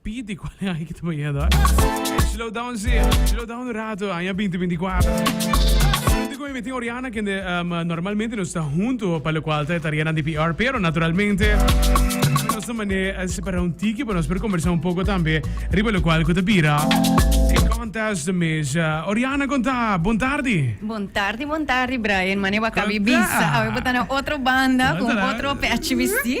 Pidi cual e aña ki ta bañando, eh? Slow down, sí. Slow down un rato, aña 2024. Junto con mi tin Oriana, que um, normalmente nos está junto, para lo cual está tarea de PR, pero naturalmente nos está manera separar un tiki para nos poder conversar un poco también, riba lo cual que te pira. En contest mes, uh, Oriana conta, bon tarde. Bon tarde, bon tarde, Brian. Mane baka Conta. bibisa. Awe botana otro banda, con Conta. otro pechi bisti.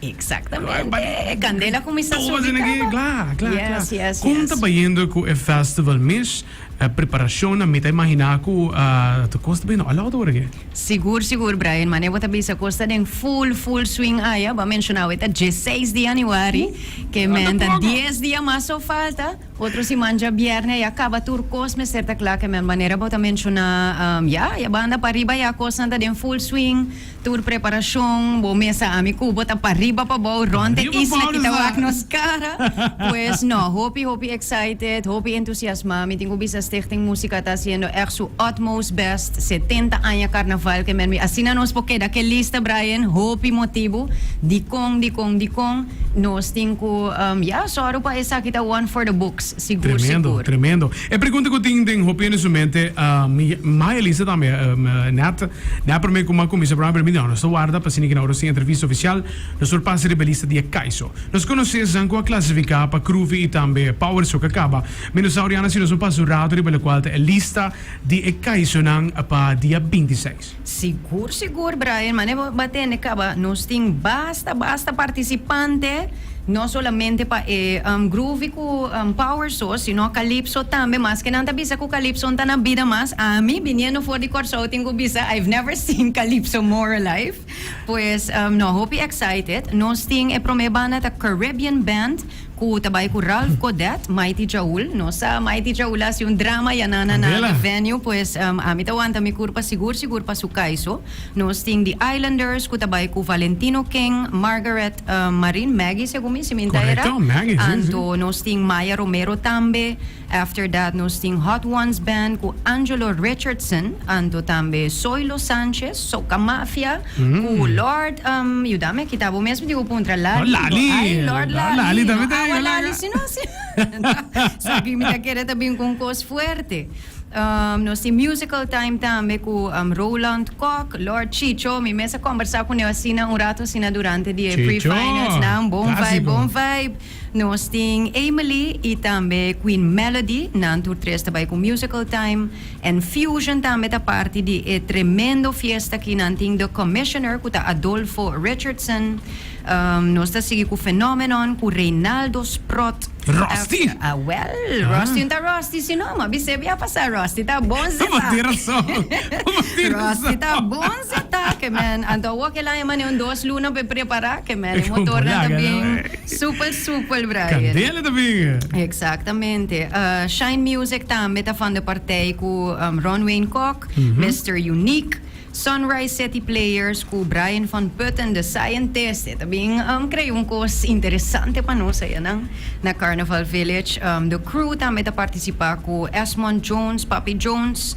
Exactamente. E candela cuminsa subi traba. Yes, yes, Con yes. ta bayendo cu e festival mish? E preparacionnan mi ta imagina cu ta cos ta bayendo a lot ora aki. Sigur, sigur, Brian. Mane bo ta bisa cos ta den full, full swing aya. Bo a mencionau e ta dieseis di januari. Ke men ta dies dia mas so falta. Otro siman dja bierne ya caba tur cos mester ta cla. Ke men manera bo ta menciona, ya, ya banda pariba ya cosnan ta den full swing. Tur preparacion bo mesa ami cu bo ta pariba pabou rond e isla y ta wak nos cara. Pues no, hopi hopi excited, hopi entusiasma. Mi tin cu bisa Stichting Musica ta haciendo echt su utmost best. Setenta aña Carnaval ke men mi. Asina nos por keda ke lista Brian, hopi motibu dicon, dicon, dicon nos tin cu ya soro pa esaki ta one for the books. Sigur sigur. Tremendo, tremendo. E pregunta ku tin den hopia di su mente, mi Maya Lisa tambe nèt na e promé ku mi a kuminsá programa pero mi di'a nos ta warda pa siniki na ora nos tin entrevista ofisial nos por pasa riba e lista di e kaiso. Nos konosé esnan ku a klasifiká pa Kruvi i tambe Power so ka kaba. Mi no sa oriana si nos por pasa un ratu riba lokual ta e lista di e kaisonan pa dia binti seis. Sigur sigur Brian, mane bo a tende caba nos tin basta basta participante, no solamente pa e um, groovy cu um, power so, sino calypso tambe, maske nan ta bisa cu calypso no ta na bida mas, ami biniendo for di Corsou tin cu bisa I've never seen calypso more alive, pues um, no hopi excited, nos tin e prome banda ta Caribbean Band, Cu ta bay cu Ralph Codet, Mighty Chaul. Nos sa Mighty Chaul a haci un drama ya na na na Candela. the venue pues ami ta wanta mi curpa sigur sigur pa su caiso. Nos tin The Islanders cu ta bay cu Valentino King, Margaret Marin, Maggie segun mi si minta era. Correcto, Maggie, sí, sí. Anto nos tin Maya Romero tambe. After that nos tin Hot Ones Band cu Angelo Richardson anto tambe Zoilo Sanchez, Soca Mafia, cu Lord yuda me kita bo mesmo tin un puntra Lali, Lord Lali, ay Lord Lord Lali, Lali tambe no ta awa llega Lali langa. sino si so aki mi ta kere ta bin cu un cos fuerte. Um, nos tin Musical Time tambe cu um, Roland Kok, Lord Chicho, mi mes a combersa cun'e asina un rato asina durante di e Chicho, pre-finals nan, bon vibe, clásico. bon vibe. Nos tin Emily y tambe Queen Melody, nan tur tres ta bay cu Musical Time, en Fusion tambe ta parti di e tremendo fiesta aki, nan tin The Commissioner cu ta Adolfo Richardson, nos ta sigui cu Phenomenon cu Reynaldo Sprott, Rusty! Awel, Rusty no ta Rusty si no, mabie sebe a pasa, Rusty ta bon zeta, Bo tin razon, bo tin razon. Rusty ta bon zeta, ke man, anto awor kela e mane un dos luna pa e prepara, ke man, e motornan ta bien. Super super Brian. Candela ta bin e. Exactamente. Uh, Shine Music tambe ta van de partij cu um, Ron Wayne Kok, mm -hmm. Mr. Unique, Sunrise City Players cu Brian van Putten, The Scientist. E tambien um, creio un cos interesante pa nos allá nan, na Carnival Village. Um, the Crew tambe ta participa cu Esmond Jones, Papi Jones,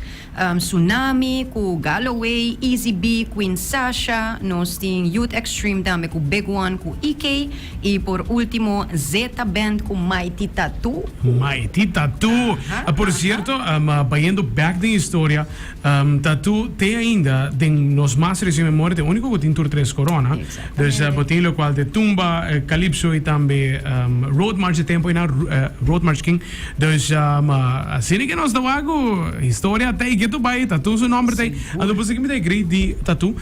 Tsunami ku Galloway, Easy B, Queen Sasha, nos tin Youth Extreme tambe ku Big One ku EK i por ultimo Zeta Band ku Mighty Tattoo. Mighty Tattoo. Por sierto, bayendo back den historia, Tattoo te ainda den nos mas reciente memoria te unico cu tin tur tres corona. Dus bo tin locual te Tumba, Calypso y tambe Road March e tempo enan, Road March kin Dus, ma asina ke nos ta wak ku historia ta ikit tu bai, ta tun su nòmber ta ei. Anto pasobra mi ta e grei di Tatú?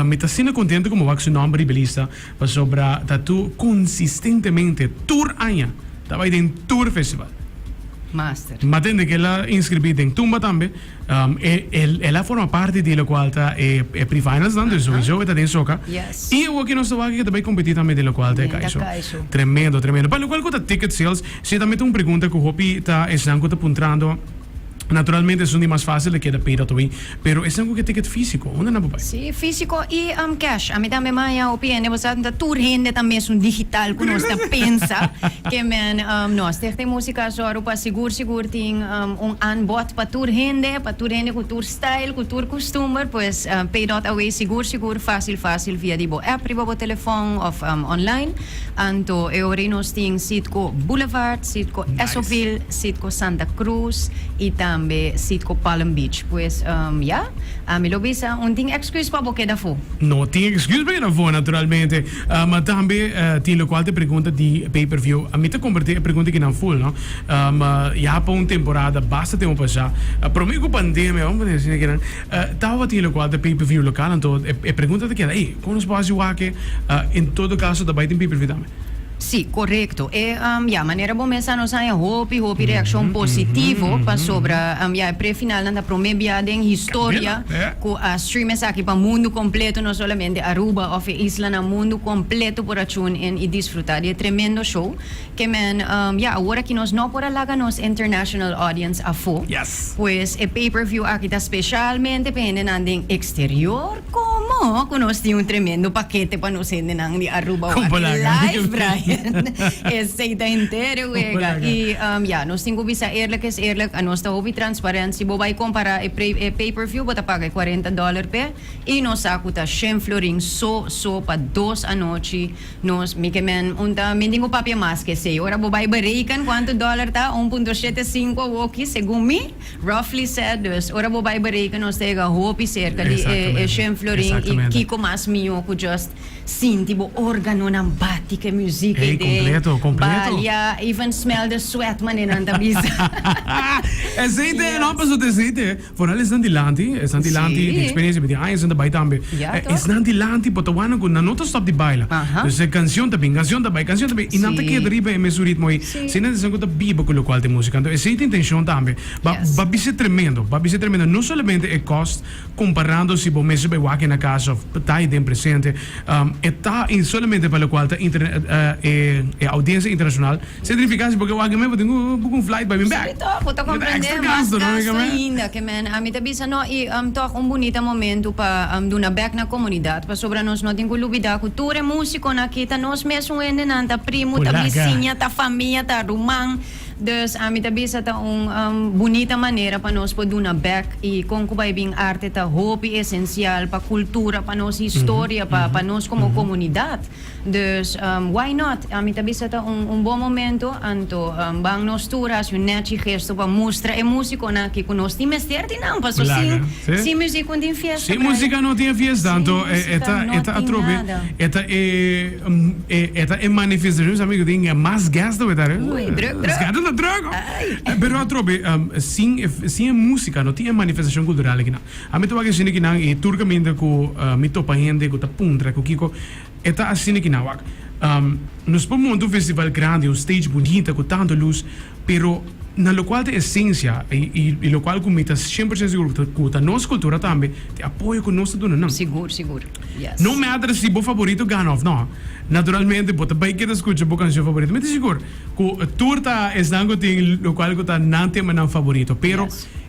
Mi ta asina kontentu ku mi wak su nòmber riba e lista, pasobra Tatú konsistentemente tur aña ta bai den tur festival. Master. Mi a tende kila inskribí den Tumba tambe. El a forma parti di lokual ta e pre-finals nan, dus souiso e ta den soka. I awor ke nos ta wak aki ta bai kompetí tambe den lokual ta e kaiso. Tremendo, tremendo. Pa lokual ku ta ticket sales, si tambe ta un pregunta ku hopi ta esnan ku ta puntrando, naturalmente esun di mas fásil a keda paid-out away, pero esnan ku ke ticket físiko, unda nan por bai? Sí, físiko i cash. Ami tambe maña hopi hende bo sa ta tur hende ta mesun digital ku nos ta pensa ke men nos. Stichting Música Azor, u pa sigur. Sigur tin un aanbod pa tur hende, pa tur hende ku tur style, ku tur kustumber, pues pay dot away sigur sigur fácil fácil via di bo app riba bo telefòn òf online. Anto e ora ei nos tin Citgo Boulevard, Citgo Esopville, Citgo Santa Cruz i tambe Citgo Palm Beach. Pues ya, ami lo bisa un tin èkskuus pa bo keda afó. No tin èkskuus pa keda afó naturalmente. Ma tambe tin lokual ta pregunta di pay-per-view. Mi ta kompartí e pregunta aki nan ful, no. Ya pa un temporada basta tin bo pasá. Promé ku pandemia, bo mira asina kinan, tabata tin lokual ta pay-per-view lokal anto e pregunta ta keda, ey, kon nos por hasi wak e? En todo kaso ta bai tin pay-per-view tambe? Sí, korekto. E, ya, manera bo mester sa nos a haña hopi, hopi reakshon positivo pasobra, ya, e prefinalnan ta promé bia den historia ku a. Stream esaki pa mundu completo, no solamente Aruba of e islanan, mundu completo por a tune in y disfruta di e tremendo show. Kman ya, awor aki nos no por a laga nos international audience afo, pues e pay per view aki ta specialmente pa hendenan den exterior, como cu nos tin un tremendo pakete pa nos hendenan di Aruba wak live draaiend esey ta henter wega. Y ya, nos tin cu bisa eerlijk is eerlijk, anos ta hopi transparant, si bo bay compara e pay per. Fiu bo ta paga e cuarenta dollar p'e y nos sa cu ta shen florin so so pa dos anochi. Nos, mi kemen, un ta mindi bo papia mas ke esey. Ora bo bay bereken cuanto dollar ta, un punto shete sinco a woki, segun mi, roughly said, dus ora bo bay bereken nos ta yega hopi cerca di e e shen florin y kico mas mijo cu just sinti bo organonan bati ke musiek ey den balia, even smell the sweat mane nan ta bisa. Esey ta e nomber su ta esey ta e. Vooral esnan di lanti, esnan di lanti tin experiencia, mi tin aña esnan ta bay tambe. Esnan di lanti por ta wak nan cu nan no ta stop di baila. Dus e cancion ta bin, cancion ta bay, cancion ta bay y nan ta keda riba e mesun ritmo ayi. Asina ta esnan cu ta biba cu locual den musica. Anto esey ta intencion tambe. Ba bisa tremendo, ba bisa tremendo. No solamente e cost comparando si bo mes bay wak ena casa of ta ayi den presente. E ta i solamente pa lokual ta e audiencia internacional. Significa si bo ke wak den me bo tin ku buka un flight pa bin bek. Sito, bo ta comprende, mas gasto ainda. Ke men a mi ta bisa no i tog un bunita momento pa duna bek na comunidad pasobra nos no tin ku lubida ku tur e musiconan aki ta nos mesun hendenan, ta primo, ta bisiña, ta famia, ta ruman. Dus ami ta bisa ta un bunita manera pa nos por duna bek y con cu bay bin arte ta hopi esencial pa cultura, pa nos historia, pa pa nos como comunidad. Dus why not? Ami ta bisa ta un un bon momento anto ban nos tur haci un nechi gesto pa mustra e musiconan aki cu nos tin mester di nan paso sin sin musico no tin fiesta bray. Sin musica no tin e fiesta anto e ta e ta atrobe e ta e. E e ta e manifestacion sa amigo tin mas guest awe ta arefe. Ui, druk druk. Sgata ta druk ho. Ai. Pero atrobe um sin e sin e musica no tin e manifestacion cultural akinan. Ami ta wak e shini kinan y tur caminda cu uh mi topa hende cu ta puntra cu kico e ta ashini kinan wak. Um nos por monta un festival grandi, un stage bunita cu tanto luz, pero na locual ta esencia y y y locual cu mi ta cien por ciento seguro cu ta nos cultura tambe te apoyo cu nos ta duna nan. Sigur, sigur. No matter si bo favorito gana of no, naturalmente bo ta bay keda scucha bo cancion favorito. Mi ta sigur cu tur ta esnan cu tin locual cu ta nan temanan favorito. Pero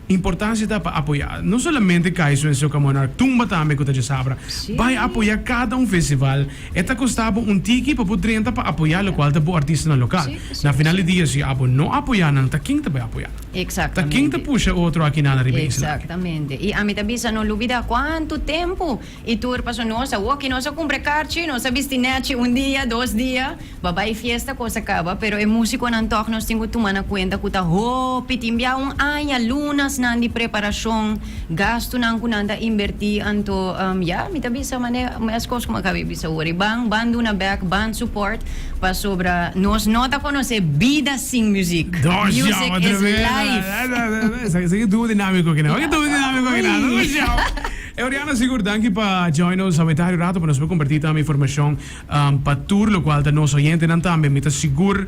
importancia ta pa apoya no solamente Kaiso en Soca Monarch, Tumba tambe cu ta djasabra. Bay apoya cada un festival. E ta costa bo un tiki pa bo drenta pa apoya locual ta bo artistanan local. Na final di dia si abo no apoya nan ta kin ta bay apoya? Ta kin ta pusha otro akinan ariba e islaki? Exactamente. Y ami ta bisa, no lubida cuantu tempo y tur paso nos a woki, nos a cumpra carchi, nos a bisti nechi un dia, dos dia, ba bay fiesta cosa caba, pero e musiconan tog nos tin cu tuma na cuenta cu ta hopi, tin bia un aña, lunasnan di preparacion. gastunan ku nan ta inbertí, anto ya, mi ta bisa manera meskos ku mi a kabe di bisa ora, i ban ban duna bèk, ban support, pasobra nos no ta konosé bida sin muziek. Music is life. Esaki e duo dinámiko kina. Esaki e duo dinámiko kina. Dónde shau. Euriana sigur danki pa join nos awentá e rato pa nos por kompartí tambe informashon. Pa tur lokual ta nos oyentenan tambe, mi ta sigur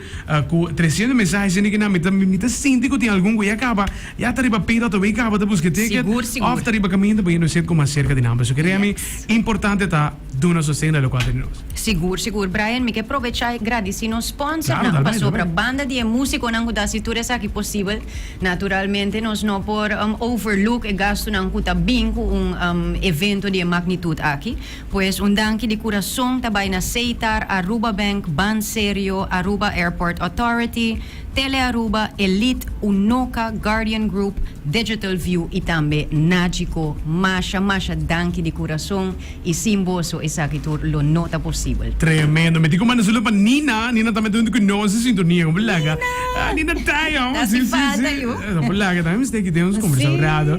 ku tresientu mensahesnan di kinan mi ta sinti ku tin algun ku ya kaba, ya ta riba peda ato e kaba ta buska ticket òf ta riba kaminda p'e nos yet ku mas serka di nan. Pasobra kere ami importante ta duna sosten na lokual ta di nos. Sigur, sigur. Brian, mi ke probechá i gradisí nos spònsernan, pasobra banda di e músikonan ku ta hasi tur esaki posibel, naturalmente nos no por overlook e gastunan ku ta bin ku un evento di e magnitut aki. Pues un danki di kurason ta bai na Seitar, Aruba Bank, Banserio, Aruba Airport Authority, Telearuba, Elite, Unoca, Guardian Group, Digital View y tambe Nagico. Masha masha danki di kurason y sin boso esaki tur lo no ta posibel. Tremendo. Mi tin ku manda salu pa Nina. Nina ta mete huntu ku nos e sintonia. Ku bo laga. Nina! Nina Taya. Nasi falta yu. Ku bo laga tambe mi steki den nos kombersao rado.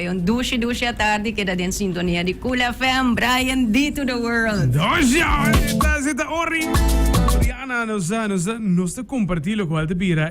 E un dushi dushi atardi keda den sintonia di Cool FM, Brian D to the world. Dushi awor e tasi ta orin. Riana nos ta comparti locual ta bira